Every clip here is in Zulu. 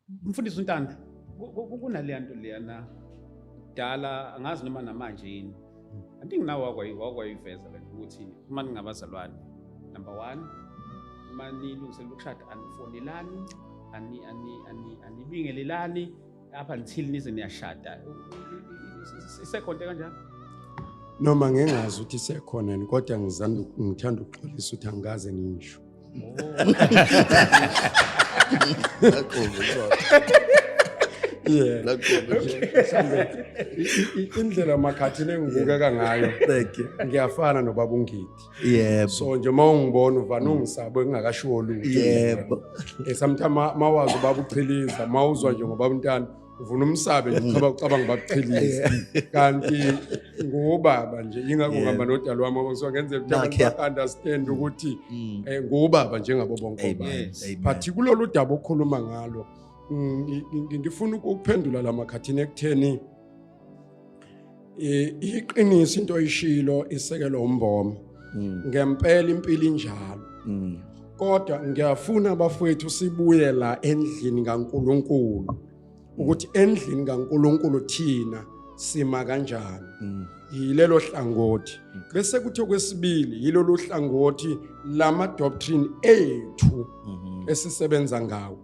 Mfundisi uNtanda, kunaleya nto leyana kudala angazi noma namanje yini. I think nawe wakwayiveza le nto ukuthi uma ningabazalwane number one uma nilungiselela ukushada anifonelani anibingelelani apha until nize niyashada isekhonte kanjalo noma ngingazi ukuthi isekhona yini kodwa ngithanda ukuxolisa ukuthi angikaze ngisho indlela makhathini engibukeka ngayo ngiyafana nobaba ungidi yebo so nje uma ungibona uvane ungisabo engingakashiwo lutho yebo eh, sometimes mawazi ubaba uchiliza mawuzwa nje ngobaba umntana uvuna umsabe nje uqhaba ucabanga bakuqhelise kanti ngubaba nje ingakho Yeah. ngihamba nodala wami ngoba ngisuka ngenzela ukuthi abantu Nakhe. ba-understand ukuthi Mm. um ngubaba njengabo bonke Amen. obaba Yes. Amen. but kulolu daba okhuluma ngalo mm, ngi- ngi- ngifuna ukuphendula la makhathini ekutheni I- iqiniso into oyishilo isekelo umboma Mm. ngempela impilo injalo Mm. kodwa ngiyafuna abafowethu sibuye la endlini kaNkuluNkulu ukuthi endlini kaNkuluNkulu thina sima kanjani Mm. yilelo hlangothi bese kuthi okwesibili yilolu hlangothi lama doctrine ethu Mhm. esisebenza ngawo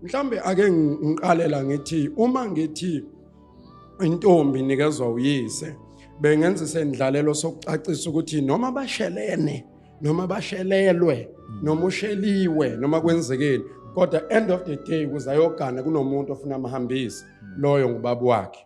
mhlambe ake ngi- ngiqalela ngithi uma ngithi intombi inikezwa uyise bengenza isendlalelo sokucacisa ukuthi noma bashelene noma bashelelwe noma usheliwe noma kwenzekeni kodwa end of the day kuzayogana kunomuntu ofuna amhambise loyo ngubaba wakhe